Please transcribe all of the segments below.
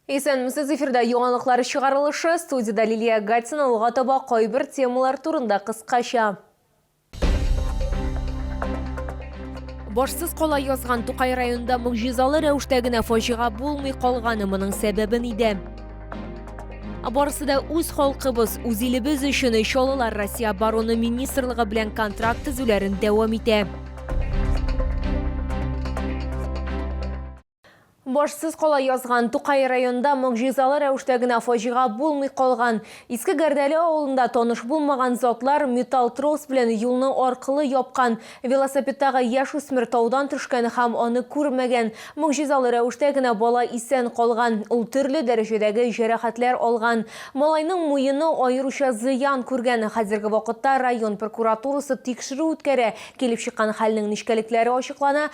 Исәнмесез, эфирда яңалыклар чыгарылышы, студиядә Лилия Гатина алга таба кайбер темалар турында кыскача. Башсыз кала язган Тукай районында могҗизалы рәвештә генә фаҗига булмый калганы моның сәбәбе нидә? Барысы да үз халкыбыз, үз илебез өчен чалылар Россия обороны министрлыгы белән контракт төзүләрен дәвам итә. Башсыз кала язган Тукай районында могҗизалы рәвештә генә фаҗига булмый калган. Иске Гәрдәле авылында таныш булмаган затлар металл трос белән юлны аркылы япкан. Велосипедтагы яшүсмер таудан төшкән һәм аны күрмәгән. Могҗизалы рәвештә генә бала исән калган. Ул төрле дәрәҗәдәге җәрәхәтләр алган. Малайның муены аеруча зыян күргән. Хәзерге вакытта район прокуратурасы тикшерү үткәрә. Килеп чыккан хәлнең нечкәлекләре ачыклана,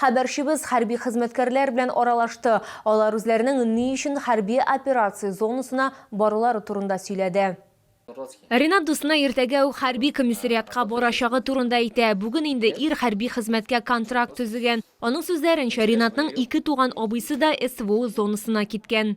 Хәбәрчебез хәрби хезмәткәрләр белән аралашты, алар үзләренең ни өчен хәрби операция зонасына барулары турында сөйләде. Ринат дусына иртәгә үк хәрби комиссариатка барачагы турында әйтә. Бүген инде ир хәрби хезмәткә контракт төзегән. Аның сүзләренчә, Ринатның ике туган абыйсы да СВО зонасына киткән.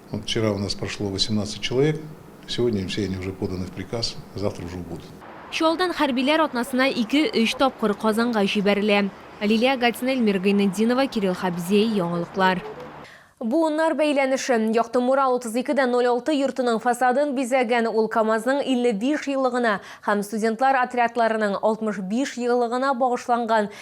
Вчера у нас прошло 18 человек, сегодня все они уже поданы в приказ, завтра уже убудут. Чаллыдан хәрбиләр атнасына ике-өч тапкыр Казанга җибәрелә. Лилия Гатина, Эльмира Гайнетдинова, Кирилл Хабзей, Яңалыклар. Буыннар бәйләнеше. Якты Мурал 32 дә 06 йортының фасадын бизәгән ул КАМАЗның 55 еллыгына һәм студентлар отрядларының 65 еллыгына багышланган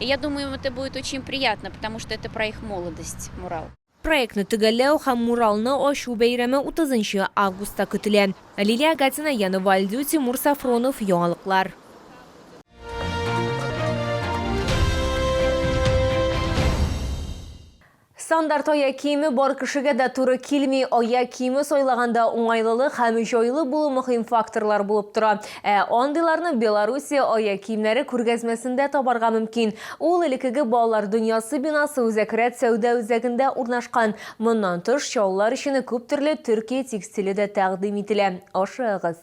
И я думаю, им это будет очень приятно, потому что это про их молодость, мурал. Проектны төгәлләү һәм муралны ачу бәйрәме 30 августта көтелә. Лилия Агатина, Яна Вальдю, Тимур Сафронов, Яңалыклар. Стандарт аяк киеме бар кешегә дә туры килми. Аяк киеме сайлаганда уңайлылык һәм җайлы булу мөһим факторлар булып тора. Ә андыйларны Белоруссия аяк киемнәре күргәзмәсендә табарга мөмкин. Ул элеккеге Балалар дөньясы бинасы Үзәк рәт сәүдә үзәгендә урнашкан. Моннан тыш, чаллылар өчен күп төрле Төркия текстиле дә тәкъдим ителә. Ашыгыгыз!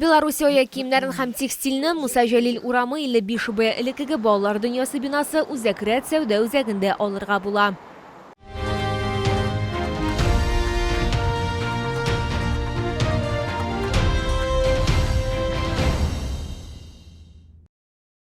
Белоруссиоя киемнәрен һәм текстильне Муса Җәлил урамы 55 Б элеккеге балалар дөньясы бинасы Үзәк рәт сәүдә үзәгендә алырга була.